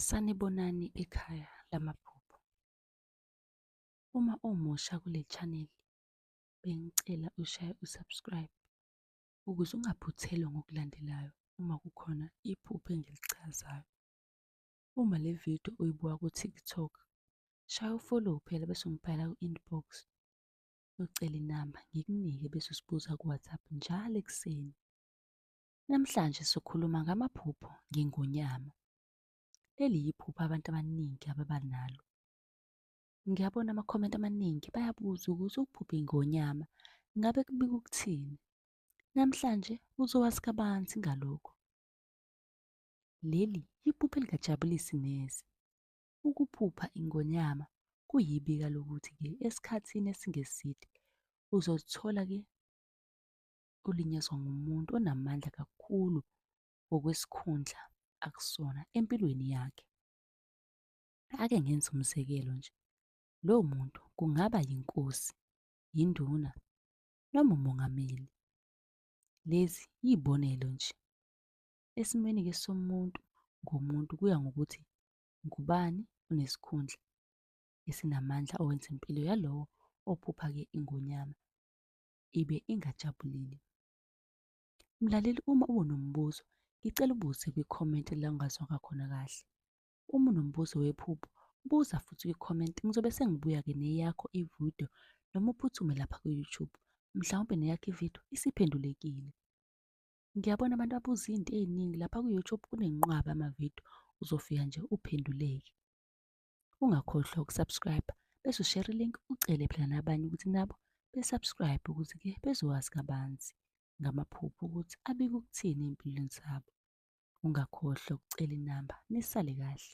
Sanibonani ekhaya lamaphupho. Uma umusha kule channel bengicela ushaye usubscribe ukuze ungaphuthelwa ngokulandelayo uma kukhona iphupho engilichazayo. Uma le video uyibuka ku-TikTok, shaya ufollow phela bese ungibhala ku-inbox ucele inamba ngikunike bese usibuza ku-WhatsApp njalo ekuseni. Namhlanje sikhuluma ngamaphupho ngingonyama. Leli yiphupho abantu abaningi ababa nalo. Ngiyabona amakhomenti amaningi bayabuza ukuthi ukuphupha ingonyama ngabe kubika ukuthini. Namhlanje uzowazi kabanzi ngalokho. Leli yiphupho elikajabulisi neze. Ukuphupha ingonyama kuyibika lokuthi-ke esikhathini esingeside uzozithola-ke ulinyazwa ngumuntu onamandla kakhulu ngokwesikhundla akusona empilweni yakhe. Ake ngenze umzekelo nje. Lowo muntu kungaba yinkosi, yinduna noma umongameli. Lezi yibonelo nje. Esimweni ke somuntu ngomuntu kuya ngokuthi ngubani onesikhundla esinamandla owenza impilo yalowo ophupha ke ingonyama ibe ingajabulile. Mlaleli uma unombuzo ngicela ubuze kwi-comment la ungazwanga khona kahle. Uma unombuzo wephupho buza futhi kwi-comment ngizobe sengibuya-ke neyakho ividiyo noma uphuthume lapha ku-YouTube. Mhlawumpe neyakho ividiyo isiphendulekile. Ngiyabona abantu abuza izinto eziningi lapha ku-YouTube kunenqwaba amavidiyo uzofika nje uphenduleke. Ungakhohlwa ukusubscribe bese ushare link ucele phela nabanye ukuthi nabo besubscribe ukuthi ke bezowazi kabanzi ngamaphupho ukuthi abike ukuthini empilweni zabo. Ungakhohlwa ukucela inamba nisale kahle.